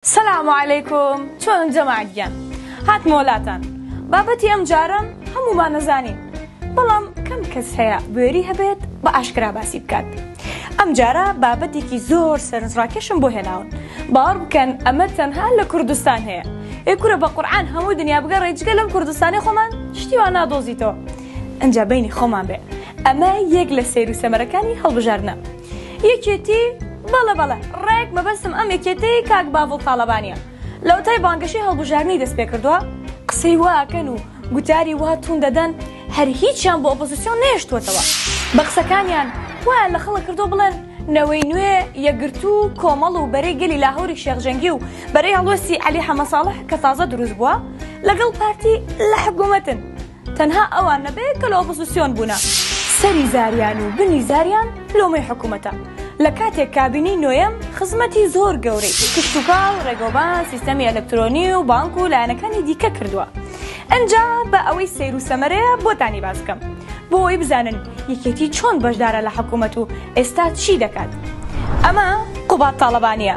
سلام علیکم چۆنن جەماعەت گیان هاتمەوە لاتان بابەتی ئەم جارەم هەموومان نەزانین بەڵام کەم کەس هەیە بوێری هەبێت بە ئاشکرا باسی بکات ئەم جارە بابەتێکی زۆر سەرنجڕاکێشم بۆ هێناون باوەڕ بکەن ئەمە تەنها لە کوردستان هەیە ئێ کورە بە قورعان هەموو دنیا بگەڕێ جگە لەم کوردستانی خۆمان شتی وا نادۆزیتەوە ئەنجا بەینی خۆمان بێ ئەمە یەک لە سەیر و سەمەرەکانی هەڵبژاردنە یەکێتی بەڵێ بەڵێ ڕێک مەبەستم ئەم یەکێتیەی کاک باڤڵ تاڵەبانیە لەوەتای بانگەشەی هەڵبژاردنی دەست پێکردوە قسەی وا ئەکەن و گوتاری وا توون دەدەن هەر هیچیان بۆ ئۆپۆزسیۆن نەهێشتووەتەوە بە قسەکانیان وایان لە خەڵک کردووە بڵێن نەوەی نوێ یەکگرتوو و کۆمەڵ و بەرەی گەلی لاهوری شێخ جەنگی و بەرەی هەڵوێستی عەلی حەمە ساڵح کە تازە دروست بووە لەگەڵ پارتی لە حکوومەتن تەنها ئەوان نەبێ کە لە ئۆپۆزسیۆن بوونە سەری زاریان و بنی زاریان لۆمەی حکومەتە لە کاتێک کابینەی نۆیەم خزمەتی زۆر گەورەی کشتوکاڵ ڕێگەوبان سیستەمی ئەلەکترۆنی و بانک و لایەنەکانی دیکە کردووە ئەنجا بە ئەوەی سەیر و سەمەرەیە بۆتانی باس بکەم بۆ ئەوەی بزانن یەکێتی چۆن بەشدارە لە حکومەت و ئێستا چی دەکات ئەمە قوباد تاڵەبانیە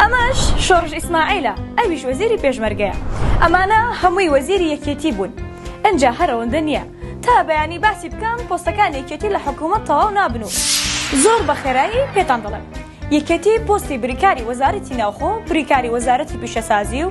ئەمەش شۆڕش ئیسماعیلە ئەویش وەزیری پێشمەرگەیە ئەمانە هەمووی وەزیری یەکێتی بوون ئنجا هەرەوەندە نییە تا بەیانی باسی بکەم پۆستەکان یەکێتی لە حکوومەت تەواو نابن و زۆر بە خێرایی پێتان دەڵێم یەکێتی پۆستی بریکاری وەزارەتی ناوخۆ بریکاری وەزارەتی پیشەسازی و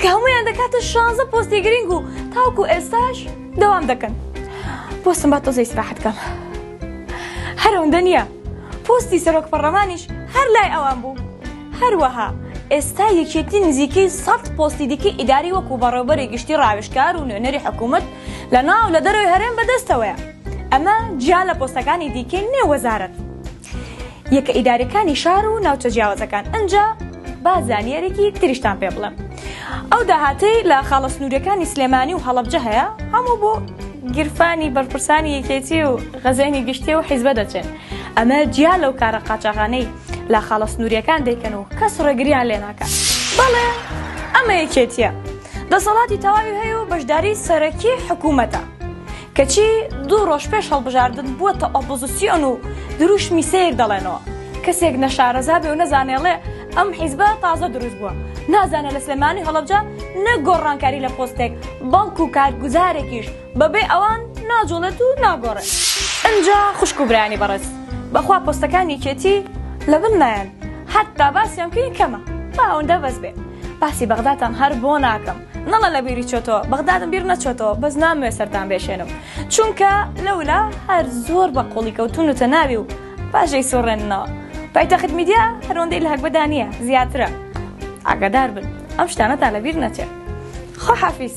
کە هەموویان دەکاتە شانزە پۆستی گرنگ و تاوکو ئێستاش دەوام دەکەن پۆستم با تۆزەی سراحەت کەم هەرەوەندە نییە پۆستی سەرۆک پەڕەمانیش هەر لای ئەوان بوو هەروەها ئێستا یەکێتی نزیکەی سەد پۆستی دیکەی ئیداری وەکو بەڕێوبەری گشتی ڕاوێشکار و نوێنەری حکوومەت لە ناو لە دەرەوەی هەرێم بەدەستەوەیە ئەمە جیا لە پۆستەکانی دیکەی نێو وەزارەت یەکە ئیدارەکانی شار و ناوچە جیاوازەکان ئنجا با زانیارێکی تریشتان پێ بڵێم ئەو داهاتەی لە خاڵە سنوورەکانی سلێمانی و هەڵەبجە هەیە هەموو بۆ گیرفانی بەرپرسانی یەکێتی و غەزێنی گشتی و حیزبە دەچێن ئەمە جیا لەو کارە قاچاغانەی لە خاڵە سنووریەکان دەیکەن و کەس ڕێگریان لێ ناکات بەڵێ ئەمە یەکێتیە دەسەڵاتی تەواوی هەیە و بەشداری سەرەکی حکوومەتە کەچی دوو ڕۆژ پێش هەڵبژاردن بووەتە ئۆپۆزسیۆن و درووشمی سەیر دەڵێنەوە، کەسێک نەشارەزا بێ و نەزانێ ئەڵێ ئەم حیزبە تازە درووست بووە، نازانێ لە سلێمانی و هەڵەبجە نەک گۆڕانکاری لە پۆستێک بەڵکوو کارگوزارێکیش بەبێ ئەوان ناجووڵێت و ناگۆڕێ. ئنجا خوشک و برایانی بەڕێز بەخوا پۆستەکان یەکێتی لە بن نایەن، هەتا باسیان بکەین کەمە، با ئەوەندە بەس بێ، باسی بەغداتان هەر بۆ ناکەم. نەڵە لە بیری چۆتەوە بەغدادم بیر نەچۆتەوە بەس نامەوێ سەرتان بێشێنم چونکە لەولا هەر زۆر بە قوڵی کەوتون و تەناوی و باژەی سۆڕێننەوە پایتەخت میدیا هەرۆندەی لە هەگبەدا نییە زیاترە ئاگادار بن ئەم شتانەتان لە بیر نەچێت خۆ حافیس